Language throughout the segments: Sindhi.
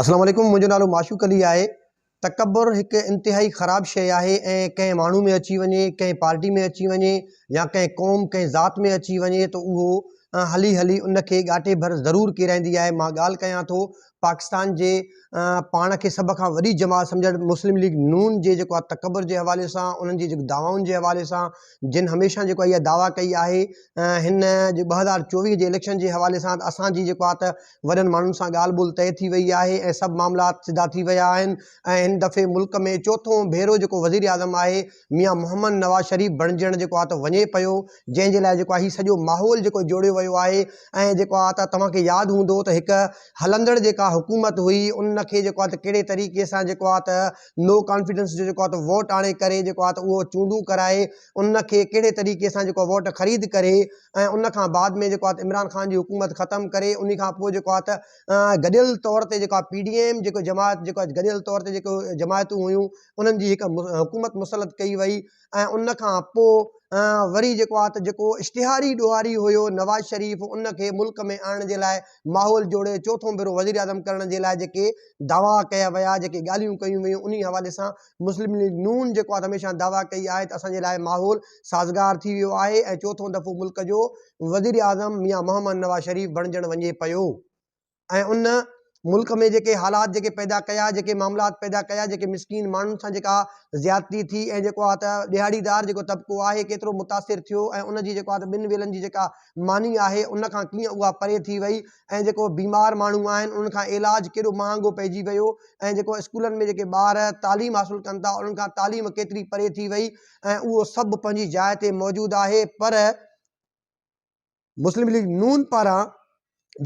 السلام عليڪم منهنجو نالو معشوق علي آهي تڪبر هڪ انتهائي خراب شيء آهي ۽ ڪنهن ماڻهو ۾ اچي وڃي ڪنهن پارٽي ۾ اچي وڃي يا ڪنهن قوم ڪنهن ذات ۾ اچي وڃي ته اهو هلي هلي ان کي ڳاٽي ڀر ضرور ڪيرائيندي آهي مان ڳالهه ڪيان ٿو پاڪستان جي پاڻ کي سڀ کان وڏي جماعت سمجهڻ مسلم ليگ نون جي جيڪو آهي تڪبر جي حوالي سان انهن جي جيڪو دعوائن جي حوالي سان جن هميشه جيڪو اها دعويٰ ڪئي آهي هن ٻه هزار چوويهه جي اليڪشن جي حوالي سان اسان جي جيڪو آهي ته وڏن ماڻهن سان ڳالهه ٻولهه طئي ٿي وئي آهي ۽ سڀ معاملات سڌا ٿي ويا آهن ۽ هن دفعي ملڪ ۾ چوٿون ڀيرو جيڪو وزيراعظم آهي ميان محمد نواز شريف بڻجڻ جيڪو آ ته وڃي پيو جنهن جي لاء جيڪو آ هي سڄو ماحول جيڪو جوڙيو ويو آهي ۽ جيڪو آ ته توهان کي ياد هوندو ته هڪ هلندڙ جيڪا حڪومت هئي ان کي جيڪو آ ته ڪهڙي طريقي سان جيڪو آ ته نو ڪانفيڊنس جو جيڪو آ ته ووٽ آڻي ڪري جيڪو آ ته اهو چونڊون ڪرائي ان کي ڪهڙي طريقي سان جيڪو ووٽ خريد ڪري ۽ ان کان بعد ۾ جيڪو عمران خان جي حڪومت ختم ڪري انهي کان پوء جيڪو آهي ته گڏيل طور تي جيڪو پي ڊي ايم جيڪو جماعت جيڪو گڏيل طور تي جيڪو جماعتون هيون انهن جي هڪ حڪومت مسلط ڪئي وئي ۽ ان کان پوء وري جيڪو آهي ته جيڪو اشتهاري ڏوهاري هيو نواز شريف ان کي ملڪ ۾ آڻڻ جي لاء ماحول جوڙي چوٿون ڀيرو وزيراعظم ڪرڻ جي لاء جيڪي دعويٰ ڪيا ويا جيڪي ڳالهيون ڪيون ويون انهي حوالي سان مسلم ليگ نون جيڪو آهي ته هميشه دعويٰ ڪئي آهي ته اسان جي لاء ماحول سازگار ٿي ويو آهي ۽ چوٿون دفعو ملڪ جو وزيراعظم ميان محمد نواز شريف بڻجڻ وڃي پيو ۽ ان ملڪ ۾ جيڪي حالات جيڪي پيدا ڪيا جيڪي معاملات پيدا ڪيا جيڪي مسڪين ماڻهن سان جيڪا زيادتي ٿي ۽ جيڪو آهي ته ڏيهاڙيدار جيڪو طبقو آهي ڪيترو متاثر ٿيو ۽ ان جي جيڪو آهي ته ٻن ويلن جي جيڪا ماني آهي ان کان ڪيئن اها پري ٿي وئي ۽ جيڪو بيمار ماڻهو آهن انهن کان علاج ڪيڏو مهانگو پئجي ويو ۽ جيڪو اسڪولن ۾ جيڪي ٻار تعليم حاصل ڪن ٿا انهن کان تعليم ڪيتري پري ٿي وئي ۽ اهو سڀ پنهنجي جاء تي موجود آهي پر مسلم ليگ نون پاران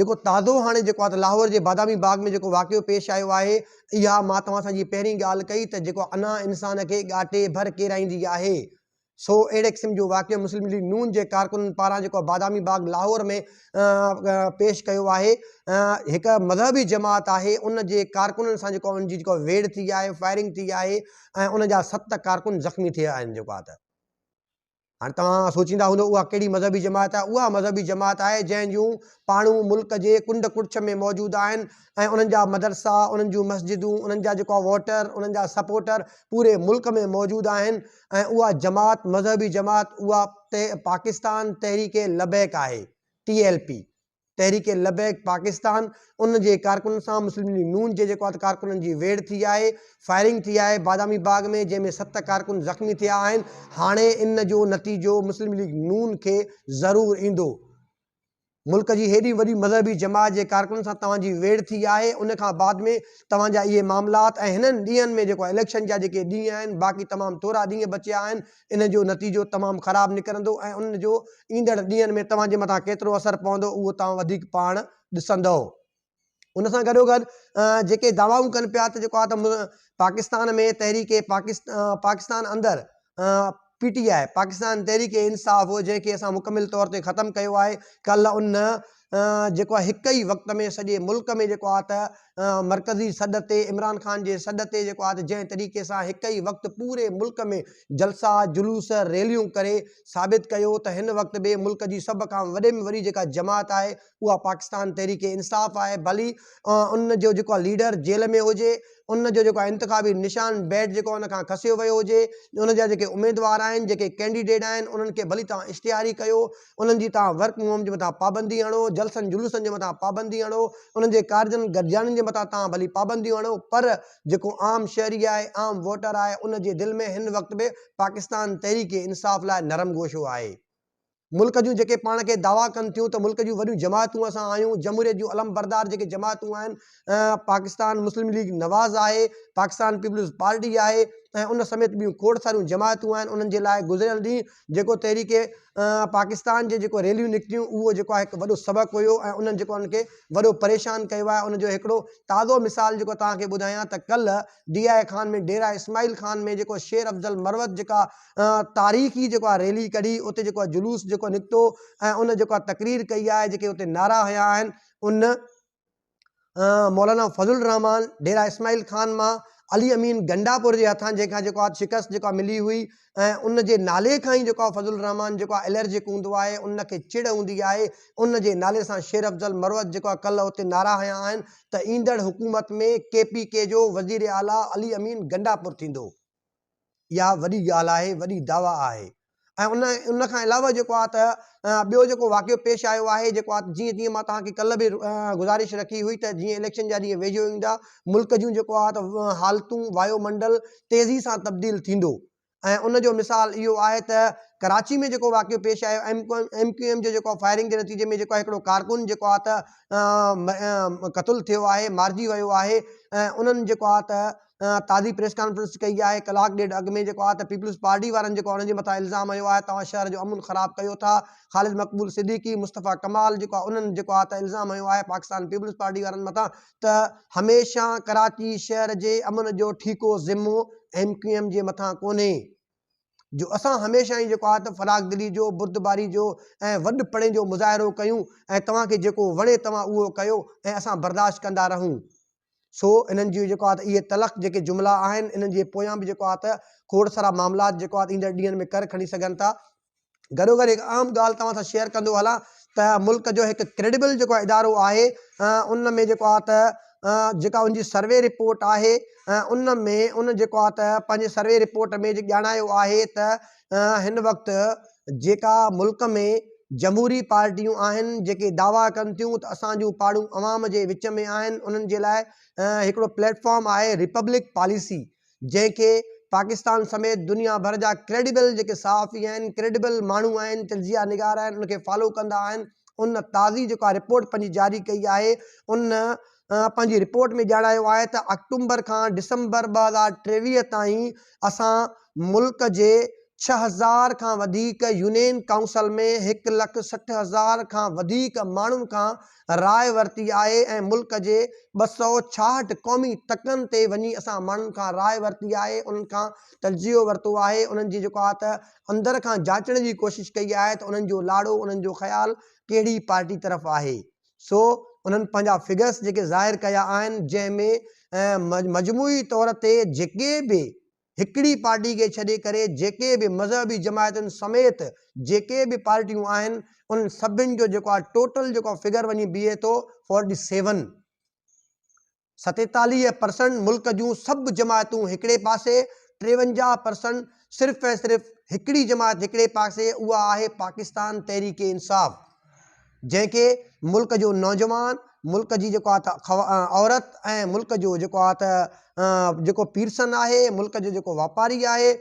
جيڪو تازو هاڻي جيڪو آهي لاهور جي بادامي باغ ۾ جيڪو واقعو پيش آيو آهي اها مان توهان سان جي پهرين ڳالهه ڪئي ته جيڪو انا انسان کي ڳاٽي ڀر ڪيرائيندي آهي سو اهڙي قسم جو واقعو مسلم ليگ نون جي ڪارڪنن پاران جيڪو بادامي باغ لاهور ۾ پيش ڪيو آهي هڪ مذهبي جماعت آهي ان جي ڪارڪنن سان جيڪو ان جي جيڪو ويڙ ٿي آهي فائرنگ ٿي آهي ۽ ان جا ست ڪارڪن زخمي ٿيا آهن جيڪو آهي ته هاڻي توهان سوچيندا هوندو اها ڪهڙي مذهبي جماعت آهي اها مذهبي جماعت آهي جنهن جون پاڻون ملڪ جي ڪنڊ ڪڙڇ ۾ موجود آهن ۽ انهن جا مدرسا انهن جون مسجدون انهن جا جيڪو ووٽر انهن جا سپورٽر پوري ملڪ ۾ موجود آهن ۽ اها جماعت مذهبي جماعت اها ته پاڪستان تحريڪ لبيڪ آهي، T L P, Tehreek Labbaik Pakistan, ان جي ڪارڪنن سان مسلم ليگ نون جي جيڪو آهي ڪارڪنن جي ويڙهه ٿي آهي، فائرنگ ٿي آهي بادامي باغ ۾ جنهن ۾ ست ڪارڪن زخمي ٿيا آهن، هاڻي ان جو نتيجو مسلم ليگ نون کي ضرور ايندو. ملڪ جي هيڏي وڏي مذهبي جماعت جي ڪارڪنن سان توهان جي ويڙهه ٿي آهي ان کان بعد ۾ توهان جا اهي معاملات ۽ هنن ڏينهن ۾ جيڪو اليڪشن جا جيڪي ڏينهن آهن باقي تمام ٿورا ڏينهن بچيا آهن ان جو نتيجو تمام خراب نڪرندو ۽ ان جو ايندڙ ڏينهن ۾ توهان جي مٿان ڪيترو اثر پوندو اهو توهان وڌيڪ پاڻ ڏسندؤ. ان سان گڏوگڏ جيڪي دعوائون ڪن پيا ته جيڪو آهي ته پاڪستان ۾ تحريڪ پاڪستان اندر پي ٽي آء پاڪستان تحريڪ انصاف جنهن کي اسان مڪمل طور تي ختم ڪيو آهي ڪل ان جيڪو آهي هڪ ئي وقت ۾ سڄي ملڪ ۾ جيڪو آهي ته مرڪزي سڏ تي عمران خان جي سڏ تي جيڪو آهي ته جنهن طريقي سان هڪ ئي وقت پوري ملڪ ۾ جلسا جلوس ريليون ڪري ثابت ڪيو ته هن وقت به ملڪ جي سڀ کان وڏي ۾ وڏي جيڪا جماعت آهي اها پاڪستان تحريڪ انصاف آهي ڀلي ان جو جيڪو ليڊر جيل ۾ هجي ان جو جيڪو انتخابي نشان بيٽ جيڪو ان کان کسيو ويو هجي ان جا جيڪي اميدوار آهن جيڪي ڪينڊيڊيٽ آهن انهن کي ڀلي توهان اشتهاري ڪيو انهن جي توهان ورڪ فرم هوم جي مٿان پابندي هڻو جلسن جلوسن جي مٿان پابندي هڻو انهن جي ڪارجن گڏجاڻين جي مٿان توهان ڀلي پابنديون هڻو پر جيڪو عام شهري آهي عام ووٽر آهي ان جي دل ۾ هن وقت به پاڪستان تحريڪ انصاف لاء نرم گوشو آهي ملڪ جون جيڪي پاڻ کي دعويٰ ڪن ٿيون ته ملڪ جون وڏيون جماعتون اسان آهيون، جمهوريت جون علمبردار جيڪي جماعتون آهن، پاڪستان مسلم ليگ نواز آهي، پاڪستان پيپلز پارٽي آهي ۽ ان سميت ٻيون کوڙ ساريون جماعتون آهن، انهن جي لاء گذريل ڏينهن جيڪو تحريڪ پاڪستان جي جيڪو ريليون نڪتيون اهو جيڪو آهي هڪ وڏو سبق هيو ۽ انهن جيڪو انهن کي وڏو پريشان ڪيو آهي، ان جو هڪڙو تازو مثال جيڪو توهان کي ٻڌايان ته ڪلهه ڊي آء خان ۾ ڊيرا اسماعيل خان ۾ جيڪو شير افضل مروت جيڪا تاريخي جيڪو آهي ريلي ڪڍي اتي جيڪو آهي جلوس جيڪو نڪتو ۽ ان جيڪو آهي تقرير ڪئي آهي جيڪي اتي نعرا هنيا آهن ان مولانا فضل الرحمان ڊيرا اسماعيل خان مان علي امين گنڊاپور جي هٿان جنهن کان جيڪو آهي شڪست جيڪو آهي ملي هئي ۽ ان جي نالي کان ئي جيڪو آهي فضل الرحمان جيڪو آهي الرجڪ هوندو آهي ان کي چڙ هوندي آهي ان جي نالي سان شير افضل مروت جيڪو آهي ڪلهه اتي نعرا هنيا آهن ته ايندڙ حڪومت ۾ ڪي پي ڪي جو وزير اعليٰ علي امين گنڊاپور ٿيندو اها وڏي ڳالهه آهي، وڏي دعويٰ آهي ۽ ان کان علاوه جيڪو آهي ته ٻيو جيڪو واقعو پيش آيو آهي جيڪو آهي جيئن جيئن مان توهان کي ڪلهه به گذارش رکي هئي ته جيئن اليڪشن جا ڏينهن ويجهو ايندا ملڪ جون جيڪو آهي ته حالتون وايو منڊل تيزي سان تبديل ٿيندو ۽ ان جو مثال اهو آهي ته ڪراچي ۾ جيڪو واقعو پيش آيو ايم ايم ڪيو ايم جو جيڪو آهي فائرنگ جي نتيجي ۾ جيڪو آهي هڪڙو ڪارڪن جيڪو آهي ته قتل ٿيو آهي مارجي ويو آهي ۽ انهن جيڪو آهي ته تازي پريس ڪانفرنس ڪئي آهي ڪلاڪ ڏيڍ اڳ ۾ جيڪو آهي ته پيپلز پارٽي وارن جيڪو انهن جي مٿان الزام هنيو آهي توهان شهر جو امن خراب ڪيو ٿا خالد مقبول صديقي مصطفيٰ ڪمال جيڪو آهي انهن جيڪو آهي ته الزام هنيو آهي پاڪستان پيپلز پارٽي وارن مٿان ته هميشه ڪراچي شهر جي امن جو ٺيڪو ذمو ايم ڪيو ايم جي مٿان ڪونهي جو اسان هميشه ئي جيڪو آهي ته فراخ دلي جو بردباري جو ۽ وڏ پڻي جو مظاهرو ڪيون ۽ توهان کي جيڪو وڻي توهان اهو ڪيو ۽ اسان برداشت ڪندا رهون سو انهن جون جيڪو آهي ته اهي تلخ جيڪي جملا آهن، انهن جي پويان به جيڪو آهي ته کوڙ سارا معاملات جيڪو آهي ته ايندڙ ڏينهن ۾ ڪر کڻي سگهن ٿا. گڏو گڏ هڪ اهم ڳالهه توهان سان شيئر ڪندو هلان ته ملڪ جو هڪ ڪريڊبل جيڪو آهي ادارو آهي ان ۾ جيڪو آهي ته جيڪا ان جي سروي رپورٽ آهي ان ۾ ان جيڪو آهي ته پنهنجي سروي رپورٽ ۾ جي ڄاڻايو آهي ته هن وقت جيڪا ملڪ ۾ جمهوري پارٽيون آهن جيڪي دعويٰ ڪن ٿيون ته اسان جون پاڙون عوام جي وچ ۾ آهن انهن جي لاء هڪڙو پليٽ فارم آهي ريپبلڪ پاليسي جنهن کي پاڪستان سميت دنيا ڀر جا ڪريڊيبل جيڪي صحافي آهن ڪريڊيبل ماڻهو آهن تجزيا نگار آهن ان کي فالو ڪندا آهن ان تازي جيڪا رپورٽ پنهنجي جاري ڪئي آهي ان پنهنجي رپورٽ ۾ ڄاڻايو آهي ته آڪٽومبر کان ڊسمبر ٻه هزار ٽيويهه تائين اسان ملڪ جي ڇهه هزار کان وڌيڪ يونين ڪائونسل ۾ هڪ لک سٺ هزار کان وڌيڪ ماڻهن کان راء ورتي آهي ۽ ملڪ جي ٻه سؤ ڇاهٺ قومي تڪن تي وڃي اسان ماڻهن کان راء ورتي آهي انهن کان تجزيو ورتو آهي انهن جي جيڪو آهي ته اندر کان جاچڻ جي ڪوشش ڪئي آهي ته انهن جو لاڙو انهن جو خيال ڪهڙي پارٽي طرف آهي سو انهن پنهنجا فگرس جيڪي ظاهر ڪيا آهن جنهن ۾ مجموعي طور تي جيڪي به هڪڙي پارٽي کي ڇڏي ڪري جيڪي به مذهبي جماعتن سميت جيڪي به پارٽيون آهن انهن سڀن جو جيڪو آهي ٽوٽل جيڪو فگر وڃي بيهي ٿو فورٽي سيون ستيتاليهه پرسنٽ ملڪ جون سڀ جماعتون هڪڙي پاسي، ٽيونجاهه پرسنٽ صرف ۽ صرف هڪڙي جماعت هڪڙي پاسي اها آهي پاڪستان تحريڪ انصاف جنهن کي ملڪ جو نوجوان، ملڪ جي جيڪو آهي ته عورت ۽ ملڪ جو جيڪو آهي ته جيڪو پيرسن آهي، ملڪ جو جيڪو واپاري آهي،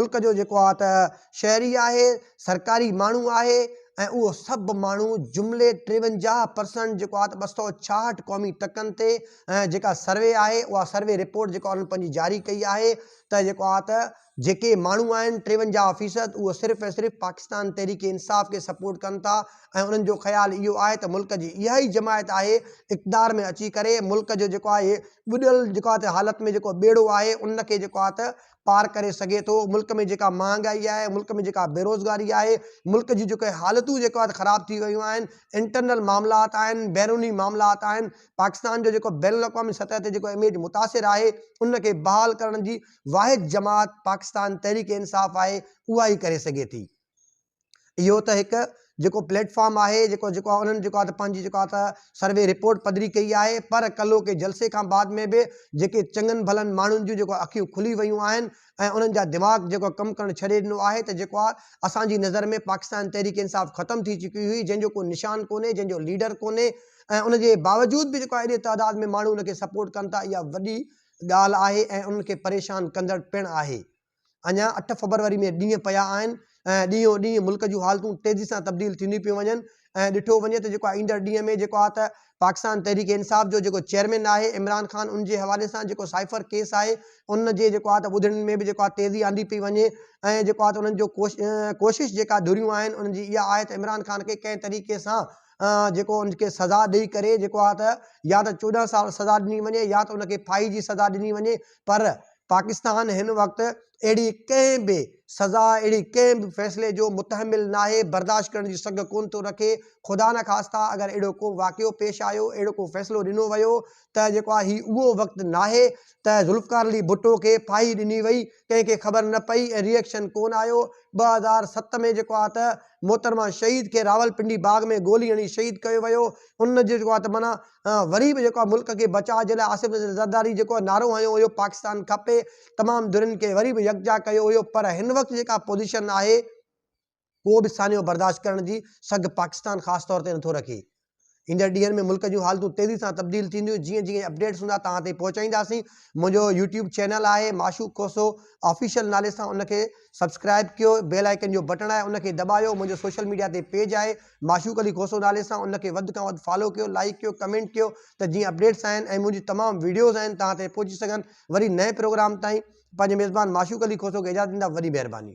ملڪ جو جيڪو آهي ته. شهري آهي، سرڪاري ماڻهو آهي ۽ اهو سڀ ماڻهو جملي ٽيونجاهه پرسنٽ جيڪو آهي ته ٻه سؤ ڇاهٺ قومي ٽڪن تي ۽ جيڪا سروي آهي اها سروي رپورٽ جيڪا انهن پنهنجي جاري ڪئي آهي ته جيڪو آهي ته جيڪي ماڻهو آهن ٽيونجاهه فيصد اهو صرف ۽ صرف پاڪستان تحريڪ انصاف کي سپورٽ ڪن ٿا ۽ انهن جو خيال اهو آهي ته ملڪ جي اها ئي جماعت آهي اقتدار ۾ اچي ڪري ملڪ جو جيڪو آهي ٻڏل جيڪو آهي ته حالت ۾ جيڪو ٻيڙو آهي ان کي جيڪو آهي ته پار ڪري سگهي ٿو، ملڪ ۾ جيڪا مهانگائي آهي، ملڪ ۾ جيڪا بيروزگاري آهي، ملڪ جون جيڪي حالتون جيڪو آهي خراب ٿي ويون آهن، انٽرنل معاملات آهن، بيروني معاملات آهن، پاڪستان جو جيڪو بين الاقوامي سطح تي جيڪو اميج متاثر آهي، ان کي بحال ڪرڻ جي واحد جماعت پاڪستان تحريڪ انصاف آهي، اها ئي ڪري سگهي ٿي. اهو ته هڪ جيڪو پليٽ فارم آهي جيڪو جيڪو انهن جيڪو آهي ته پنهنجي جيڪو آهي ته سروي رپورٽ پڌري ڪئي آهي پر ڪلهو ڪي جلسي کان بعد ۾ به جيڪي چڱن ڀلن ماڻهن جون جيڪو اکيون کلي ويون آهن ۽ انهن جا دماغ جيڪو ڪم ڪرڻ ڇڏي ڏنو آهي ته جيڪو آهي اسان جي نظر ۾ پاڪستان تحريڪ انصاف ختم ٿي چڪي هئي جنهن جو ڪو نشان ڪونهي جنهن جو ليڊر ڪونهي ۽ ان جي باوجود به جيڪو آهي ايڏي تعداد ۾ ماڻهو ان کي سپورٽ ڪن ٿا اها وڏي ڳالهه آهي ۽ انهن کي پريشان ڪندڙ پڻ آهي اڃا اٺ فبروري ۾ ڏينهن پيا آهن ۽ ڏينهون ڏينهن ملڪ جون حالتون تيزي سان تبديل ٿينديون پيون وڃن ۽ ڏٺو وڃي ته جيڪو ايندڙ ڏينهن ۾ جيڪو آهي ته پاڪستان تحريڪ انصاف جو جيڪو چيئرمين آهي عمران خان ان جي حوالي سان جيڪو سائفر ڪيس آهي ان جي جيڪو آهي ته ٻڌڻين ۾ به جيڪو آهي تيزي آندي پئي وڃي ۽ جيڪو آهي ته انهن جو ڪوشش جيڪا ڌريون آهن انهن جي اها آهي ته عمران خان کي ڪنهن طريقي سان جيڪو ان کي سزا ڏئي ڪري جيڪو آهي ته يا ته چوڏهن سال سزا ڏني وڃي يا ته ان کي ڦاهي جي سزا ڏني وڃي پر پاڪستان هن وقت اهڙي ڪنهن به سزا، اهڙي ڪنهن به فيصلي جو متحمل ناهي، برداشت ڪرڻ جي سگهه ڪونه ٿو رکي. خدا نه خاسته اگر اهڙو ڪو واقعو پيش آيو، اهڙو ڪو فيصلو ڏنو ويو ته جيڪو آهي هي اهو وقت ناهي ته ذوالفقار علي ڀٽو کي ڦاهي ڏني وئي، ڪنهن کي خبر نه پئي ۽ ري ايڪشن ڪونه آيو. ٻه هزار ست ۾ جيڪو آهي ته محترمه شهيد کي راولپنڊي باغ ۾ گولي هڻي شهيد ڪيو ويو. ان جو جيڪو آهي ته معنيٰ. ۽ وري به جيڪو آهي ملڪ کي بچاء جي لاء آصف نذير زرداري جيڪو نعرو هنيو هيو پاڪستان کپي تمام ڌرين کي وري به يڪجا ڪيو هيو پر هن وقت جيڪا پوزيشن آهي ڪو به سانحو برداشت ڪرڻ جي سگهه پاڪستان خاص طور تي نٿو رکي ايندڙ ڏينهن ۾ ملڪ جون حالتون تيزي سان تبديل ٿينديون جيئن جيئن اپڊيٽس هوندا توهان تائين پهچائينداسين منهنجو يوٽيوب چينل آهي معشوق کوسو آفيشل نالي سان ان کي سبسڪرائب ڪيو بيل آئيڪن جو بٽڻ آهي ان کي دٻايو منهنجو سوشل ميڊيا تي پيج آهي معشوق علي کوسو نالي سان ان کي وڌ کان وڌ فالو ڪيو لائيڪ ڪيو ڪمينٽ ڪيو ته جيئن اپڊيٽس آهن ۽ منهنجي تمام ويڊيوز آهن توهان تائين پهچي سگهن وري نئين پروگرام تائين پنهنجي ميزبان معشوق علي کوسو کي اجازت ڏيندا وڏي مهرباني.